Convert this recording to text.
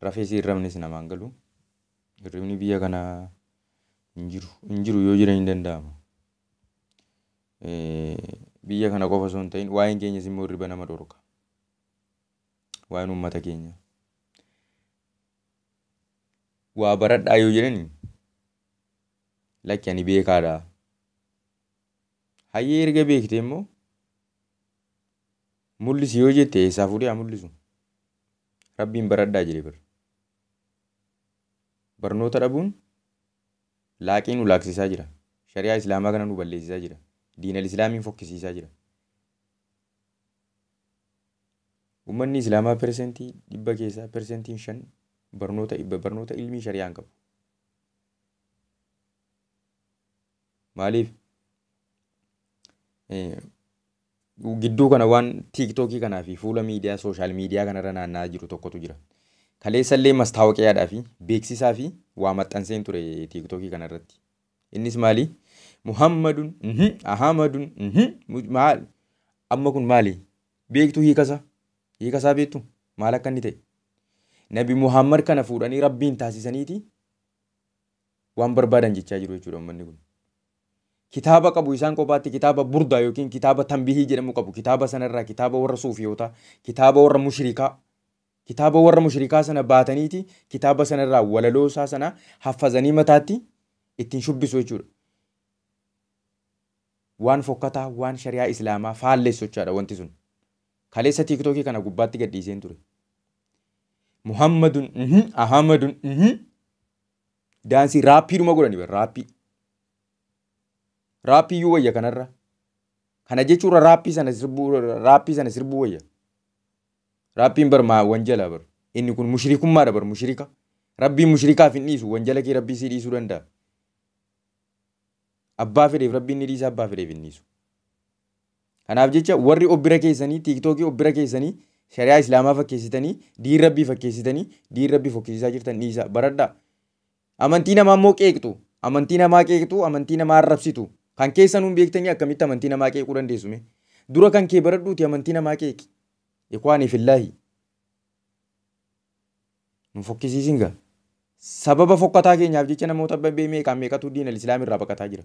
Rafees hin rafnes namaa hin galu. Hirribni biyya kanaa hin jiru. Hin jiru yoo jiran hin danda'ama. Biyya kana qofa osoo hin ta'in waa'een keenyas immoo hirriba nama dhorka. Waa'een uummata keenya. Waa baradhaa yoo jedhani lakki ani beekaadha. Hayyee erga beekte immoo mul'isi yoo jette eessaa fuudhee haa mul'isu. Rabbiin baradhaa jedhe bar. Barnoota dhabuun laaqii nu laaksisaa jira. Shari'aa Islaamaa kana nu balleessisaa jira. Diinal Islaamiin fokkisiisaa jira. Uummanni Islaamaa persentii dhibba keessaa persentiin shan barnoota barnoota ilmii shari'aa hin qabu. Maaliif gidduu kana waan tiiktookii kanaa fi fuula miidiyaa sooshaal miidiyaa kanarra naanna'aa jiru tokkotu jira. Kaleessa illee mastaawoqiyaadhaa fi beeksisaa fi waa maxxanseen ture tiiktookii kanarratti. Innis maali? Muhammadun, Ahamadun, maal? Amma kun maali? Beektu hiikasa? Hiikasaa beektu? Maal akka inni ta'e? Nabi Muhammad kana fuudhanii rabbiin taasisaniiti waan barbaadan jechaa jiru jechuudha ummanni kun. Kitaaba qabu isaan kophaatti kitaaba burdaa yookiin kitaaba tanbihii jedhamu qabu kitaaba sanarraa kitaaba warra suufiyootaa kitaaba warra mushrikaa kitaaba warra mushrikaa sana baataniiti kitaaba sanarraa walaloo isaa sana haffazanii mataatti ittiin shubbisu jechuudha. Waan fokkataa waan shari'aa islaamaa faallessu jechaadha wanti sun. Kaleessa tiiktookii kana gubbaatti gadhiiseen ture. Muhammadun mhm Ahamadun mhm Daansii raappii dhuma godhani bar raappii. Raappii iyyuu wayya kanarra. Kana jechuurra raappii sana sirbuu raappii sana sirbuu wayya. Raappiin bar maa wanjala bar. Inni kun mushrikummaadha bar mushrika. Rabbiin mushrikaaf hin dhiisu wanjala kee rabbii sii dhiisuu danda'a. Abbaa fedheef rabbiin ni dhiisa abbaa fedheef hin dhiisu. Kanaaf jecha warri of bira keessanii tiiktookii of bira keessanii shari'aa islaamaa fakkeessitanii diin rabbii fakkeessitanii diin rabbii fokkisiisaa jirtan dhiisaa baradhaa. Amantii namaa immoo qeeqxu amantii namaa qeeqxu amantii namaa arrabsitu kan keessan hin beektanii akkamitti amantii namaa qeequu dandeessu mee dura kan kee baradhuuti amantii namaa qeeqi ikwaanii fillaahi nu fokkisiisin gaa sababa fokkataa keenyaaf jecha namoota meeqaan meeqatu diin al-islaam irraa baqataa jira.